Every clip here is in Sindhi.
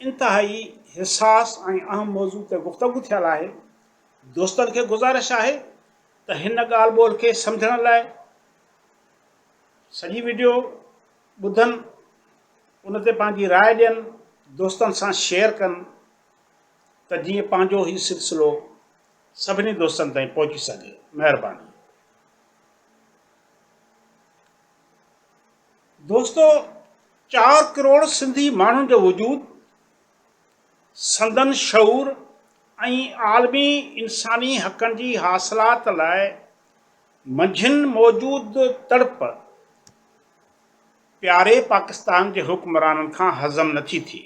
انتهائي حساس ۽ اهم موضوع تي گفتگو ٿيل آهي، دوستن کي گذارش آهي ته هن ڳالهه ٻولهه کي سمجهڻ لاء سڄي وڊيو ٻڌن، ان تي پنهنجي راء ڏين، دوستن سان شيئر ڪن ته جيئن پنهنجو هي سلسلو سڀني دوستن تائين پهچي سگهي. مهرباني. دوستو چار ڪروڙ سنڌي ماڻهن جو وجود، سندن شعور ۽ عالمي انساني حقن جي حاصلات لاء منجهن موجود تڙپ پياري پاڪستان جي حڪمرانن کان هضم نٿي ٿئي.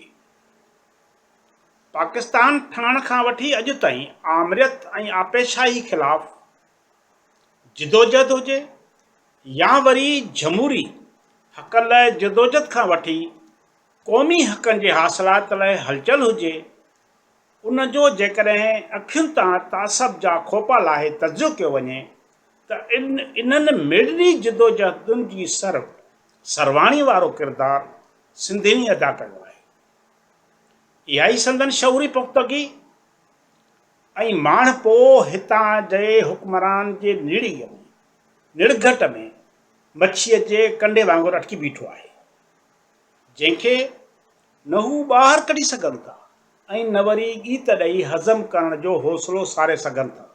پاڪستان ٺهڻ کان وٺي اڄ تائين آمريت ۽ آپيشاهي خلاف جدوجھد هجي يا وري جھموري حقن لاء جدوجھد کان وٺي قومي حقن جي حاصلات لاء هلچل هجي، ان جو جيڪڏهن اکين تان تعصب جا کوپا لاهي تجزيو ڪيو وڃي ته انهن ميڏني جدوجھدن جي سر سرواڻي وارو ڪردار سنڌين ئي ادا ڪيو آهي. اها ئي سندن شعوري پختگي، ۽ ماڻهپو هتان جي حڪمران جي نڙيء ۾، نڙگهٽ ۾، مڇيء جي ڪنڊي وانگر اٽڪي بيٺو آهي، جنهن کي نه هو ٻاهر ڪڍي سگهن ٿا ۽ نه وري ڳيت ڏئي هضم ڪرڻ جو حوصلو ساري سگهن ٿا.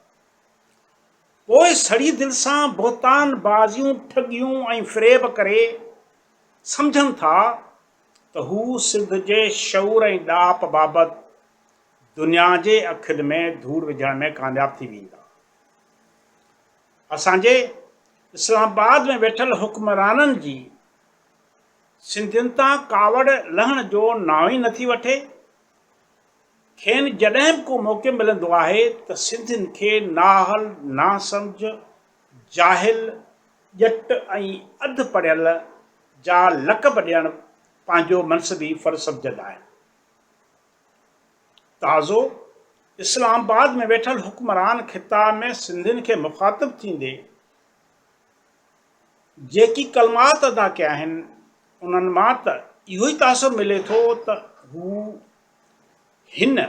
پوء سڙي دل سان بهتان بازيون، ٺڳيون ۽ فريب ڪري، سمجهن ٿا ته هو سنڌ جي شعور ۽ ڏاهپ بابت دنيا جي اکين ۾ ڌوڙ وجهڻ ۾ ڪامياب ٿي ويندا. اسان جي اسلام آباد ۾ ويٺل حڪمرانن جي سنڌين تان ڪاوڙ لهڻ جو نانء ئي نٿي وٺي. کين جڏهن به ڪو موقعو ملندو آهي ته سنڌين کي نااهل، ناسمجهه، جاهل، ڄٽ ۽ اڌ پڙهيل جا لقب ڏيڻ پنهنجو منصبي فرض سمجهندا آهن. تازو اسلام آباد ۾ ويٺل حڪمران خطا ۾ سنڌين کي مخاطب ٿيندي جيڪي ڪلمات ادا ڪيا آهن انهن مان ته اهو ئي تاثر ملي ٿو ته هو هن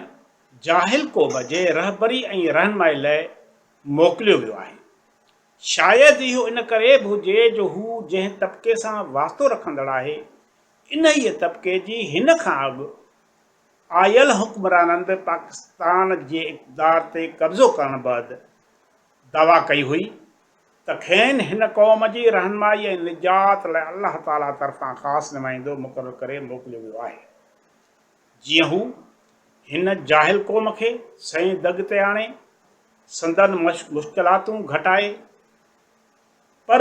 جاهل قوم جي رهبري ۽ رهنمائي لاء موڪليو ويو آهي شايد اهو ان ڪري به هجي جو هو جنهن طبقي سان واسطو رکندڙ آهي انهيء طبقي جي هن کان اڳ آيل حڪمرانن به پاڪستان جي اقتدار تي قبضو ڪرڻ بعد دعويٰ ڪئي هئي ته کين هن قوم جي رهنمائي ۽ نجات لاء الله تعاليٰ طرفان خاص نمائندو مقرر ڪري موڪليو ويو آهي جيئن هو هن جاهل قوم کي سئين دڳ تي آڻي سندن مشڪلاتون گهٽائي پر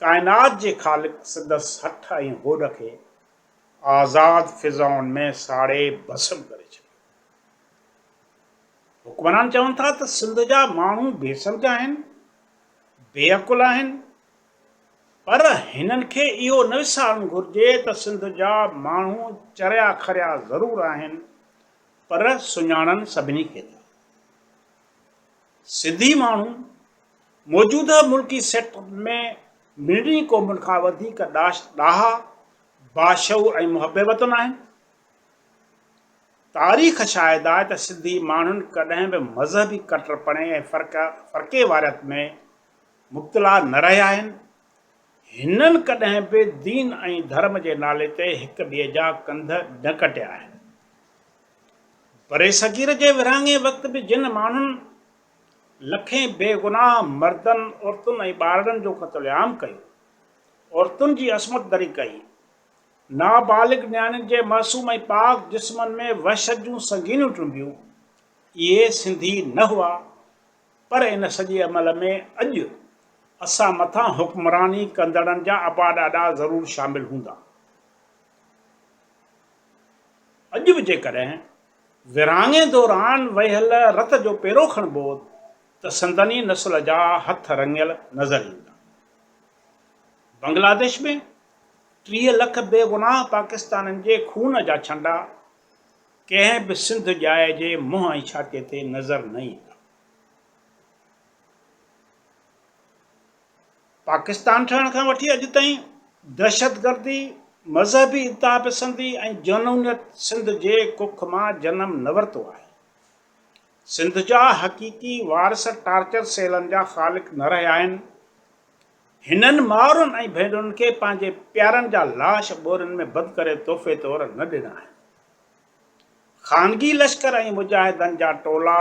ڪائنات جي خالق سندس هٺ ۽ هوڏ کي آزاد فضائن ۾ ساڙي ڀسم ڪري ڇڏيو. حڪمران چون ٿا ته سنڌ جا ماڻهو بي سمجهه آهن، بي عقل آهن، پر هنن کي اهو نه وسارڻ گهرجي ته سنڌ جا ماڻهو چريا کريا ضرور آهن، پر سڃاڻن سڀني کي ٿا. سنڌي ماڻهو موجوده ملڪي سيٽ اپ ۾ ملڻي قومن کان وڌيڪ ڏاها، باشعور ۽ محب وطن آهن. تاريخ شاهد آهي ته سنڌي ماڻهن ڪڏهن به مذهبي ڪٽرپڻي ۽ فرقيواريت ۾ مبتلا نه رهيا آهن هنن ڪڏهن به دين ۽ ڌرم جي نالي تي هڪ ٻئي جا ڪنڌ نه ڪٽيا آهن. برصغير جي ورهاڱي وقت به جن ماڻهن لکين بي گناهه مردن، عورتن ۽ ٻارڙن جو قتل عام ڪيو، عورتن جي عصمت دري ڪئي، نابالغ نياڻين جي معصوم ۽ پاڪ جسمن ۾ وحشت جون سنگينيون ٽنبيون، اهي سنڌي نه هئا؟ پر ان سڄي عمل ۾ اڄ اسان مٿان حڪمراني ڪندڙن جا ابا ڏاڏا ضرور شامل هوندا. اڄ به جيڪڏهن ورهاڱي دوران وهيل رت جو پيرو کڻبو ته سندن ئي نسل جا هٿ رڱيل نظر ايندا. بنگلاديش ۾ ٽيهه لک بي گناهه پاڪستانين جي خون جا ڇنڊا ڪنهن به سنڌ ڄائي جي منهن ۽ ڇاتي تي نظر نه ايندا. پاڪستان ٺهڻ کان وٺي اڄ تائين دهشتگردي، مذهبي انتهاپسندي ۽ جنونيت سنڌ جي ڪک مان جنم نه ورتو آهي. سنڌ جا حقيقي وارث ٽارچر سيلن جا خالق نه رهيا آهن. هنن مائرن ۽ ڀينرن کي پنهنجي پيارن جا لاش ٻورين ۾ بند ڪري تحفي طور نه ڏنا آهن. خانگي لشڪر ۽ مجاهدن جا ٽولا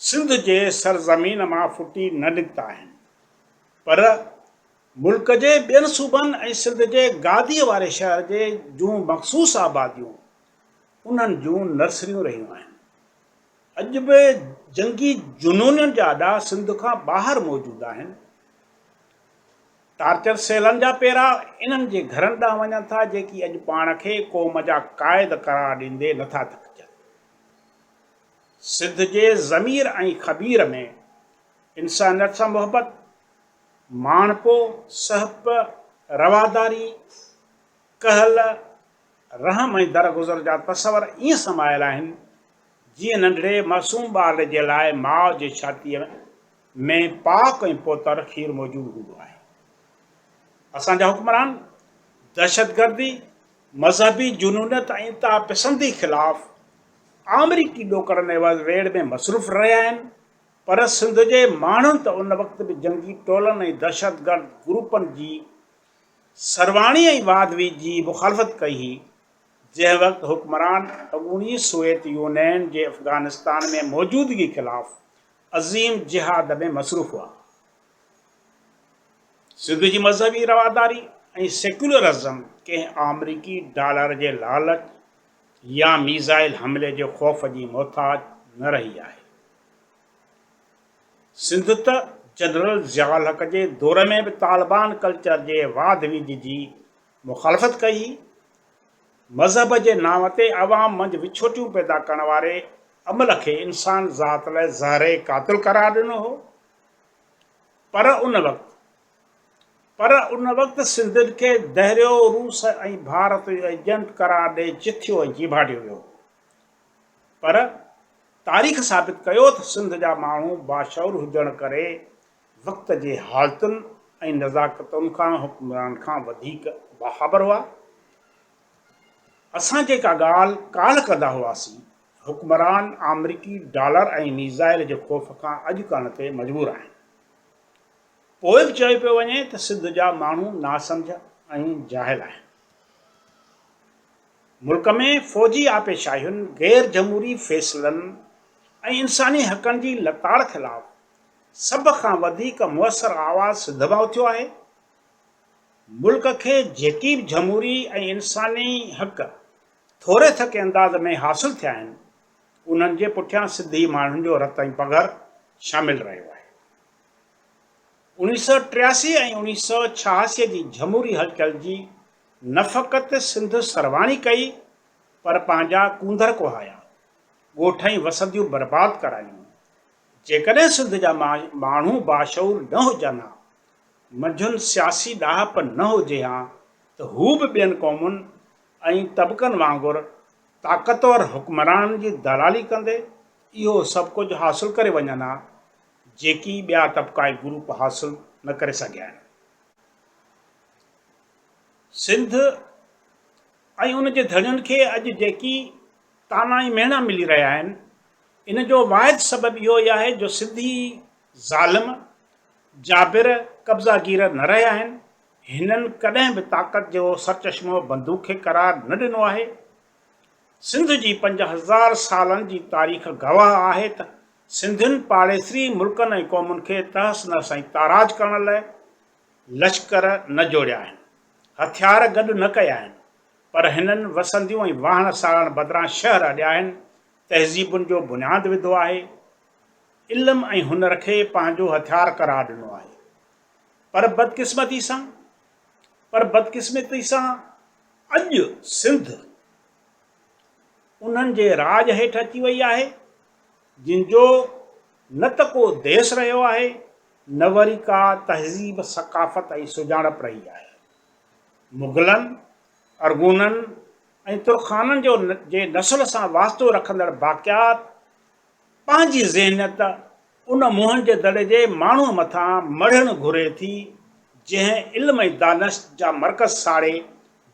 سنڌ جي سرزمين مان ڦٽي نه نڪتا آهن پر ملڪ جي ٻين صوبن ۽ سنڌ جي گاديء واري شهر جي جون مخصوص آباديون انهن جون نرسريون رهيون آهن. اڄ به جنگي جنونين جا اڏا سنڌ کان ٻاهر موجود آهن. ٽارچر سيلن جا پيرا انهن جي گهرن ڏانهن وڃن ٿا جيڪي اڄ پاڻ کي قوم جا قائد قرار ڏيندي نه ٿا ٿڪجن. سنڌ جي ضمير ۽ خمير ۾ انسانيت سان محبت، ماڻهپو، سهپ، رواداري، ڪهل، رحم ۽ درگذر جا تصور ائين سمايل آهن جيئن ننڍڙي معصوم ٻار جي لاء ماء جي ڇاتيء ۾ پاڪ ۽ پوتر کير موجود هوندو آهي. اسان جا حڪمران دهشتگردي، مذهبي جنونيت ۽ انتها پسندي خلاف آمريڪي ڏوڪڙن عيوض ويڙهه ۾ مصروف رهيا آهن پر سنڌ جي ماڻهن ته ان وقت به جنگي ٽولن ۽ دهشتگرد گروپن جي سرواڻي ۽ واڌوي جي مخالفت ڪئي هئي، جنهن وقت حڪمران اڳوڻي سوويت يونين جي افغانستان ۾ موجودگي خلاف عظيم جهاد ۾ مصروف هئا. سنڌ جي مذهبي رواداري ۽ سيڪيولرزم ڪنهن آمريڪي ڊالر جي لالچ يا ميزائل حملي جي خوف جي محتاج نه رهي آهي. سنڌ ته جنرل ضياء الحق جي دور ۾ به طالبان ڪلچر جي واڌ ويجهه جي مخالفت ڪئي هئي. مذهب جي نانء تي عوام منجهه وڇوٽيون پيدا ڪرڻ واري عمل کي انسان ذات لاء زهري قاتل قرار ڏنو هو. پر ان وقت پر ان وقت سنڌين کي دهريو روس ۽ ڀارت جو ايجنٽ قرار ڏئي چٿيو ۽ جيڀاٽيو ويو هو. پر تاريخ ثابت ڪيو تھ سنڌ جا ماڻھو باشعور ھجڻ ڪري وقت جي حالتن ۽ نزاڪتن کان حڪمران کان وڌيڪ باخبر ھئا. اسان جيڪا ڳالھھ ڪالھھ ڪندا ھئاسين، حڪمران آمريڪي ڊالر ۽ ميزائيل جي خوف کان اڄ ڪرڻ تي مجبور آھن. پوء بھ چيو پيو وڃي تھ سنڌ جا ماڻھو ناسمجھھ ۽ جاھل آھن. ملڪ ۾ فوجي آپي شاهين، غير جمهوري فيصلن ۽ انساني حقن جي لتاڙ خلاف سڀ کان وڌيڪ موثر آواز سنڌ مان اٿيو آهي. ملڪ کي جيڪي به جمهوري ۽ انساني حق ٿوري ٿڪي انداز ۾ حاصل ٿيا آهن، انهن جي پٺيان سنڌي ماڻهن جو رت ۽ پگهر شامل رهيو آهي. اوڻيهه سؤ ٽياسي ۽ اوڻيهه سؤ ڇهاسي جي جمهوري هلچل جي نه فقط سنڌ سرواڻي ڪئي پر پنهنجا ڪونڌر ڪوهايا، ڳوٺ ۽ وسنديون برباد ڪرايون. جيڪڏهن سنڌ جا ماڻهو باشعور نه هجن ها، منجهن سياسي ڏاهپ نه هجي ها ته هو به ٻين قومن ۽ طبقن وانگر طاقتور حڪمرانن جي دلالي ڪندي اهو سڀ ڪجهه حاصل ڪري وڃن ها، جيڪي ٻيا طبقائي گروپ حاصل نه ڪري سگهيا آهن. سنڌ ۽ ان جي ڌڻين کي اڄ جيڪي طعنا ۽ مهڻا ملي رهيا آهن، ان جو واحد سبب اهو ئي آهي جو سنڌي ظالم، جابر، قبضا گير نه رهيا آهن، هنن ڪڏهن به طاقت جو سرچشمو بندوق کي قرار نه ڏنو آهي. سنڌ جي پنج هزار سالن جي تاريخ گواهه آهي ته سنڌين پاڙيسري ملڪن ۽ قومن کي تحس نحس ۽ تاراج ڪرڻ لاء لشڪر نه جوڙيا آهن، هٿيار گڏ نه ڪيا آهن، پر هنن وسنديون ۽ واهڻ ساڙڻ بدران شهر اڏيا آهن، تهذيبن جو بنياد وڌو آهي، علم ۽ هنر کي پنهنجو هٿيار قرار ڏنو آهي. پر بدقسمتي سان پر بدقسمتي سان اڄ سنڌ انهن جي راڄ هيٺ اچي وئي آهي. جن جو نه ته ڪو ديس رهيو آهي، نه وري ڪا تهذيب، ثقافت ۽ سڃاڻپ رهي آهي. مغلن، ارغونن ۽ ترخانن جو جي نسل سان واسطو رکندڙ باقيات پنهنجي ذهنيت ان موهن جي دڙي جي ماڻهوء مٿان مڙهڻ گهري ٿي، جنهن علم ۽ دانشت جا مرڪز ساڙي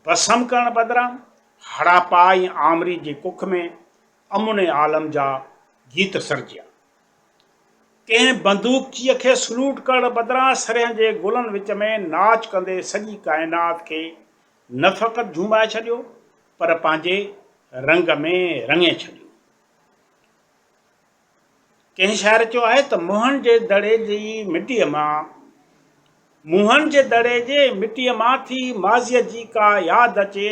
ڀسم ڪرڻ بدران هڙاپا ۽ آمري جي ڪک ۾ امن عالم جا گيت سرجيا. ڪنهن بندوقچيء کي سلوٽ ڪرڻ بدران سرهين جي گلن وچ ۾ ناچ ڪندي سڄي ڪائنات کي نه فقط جهومائي ڇڏيو پر پنهنجي رنگ ۾ رڱي ڇڏيو. ڪنهن شاعر چيو آهي ته موهن جي دڙي جي مٽيء مان موهن جي دڙي جي مٽيء مان ٿي ماضيء جي ڪا ياد اچي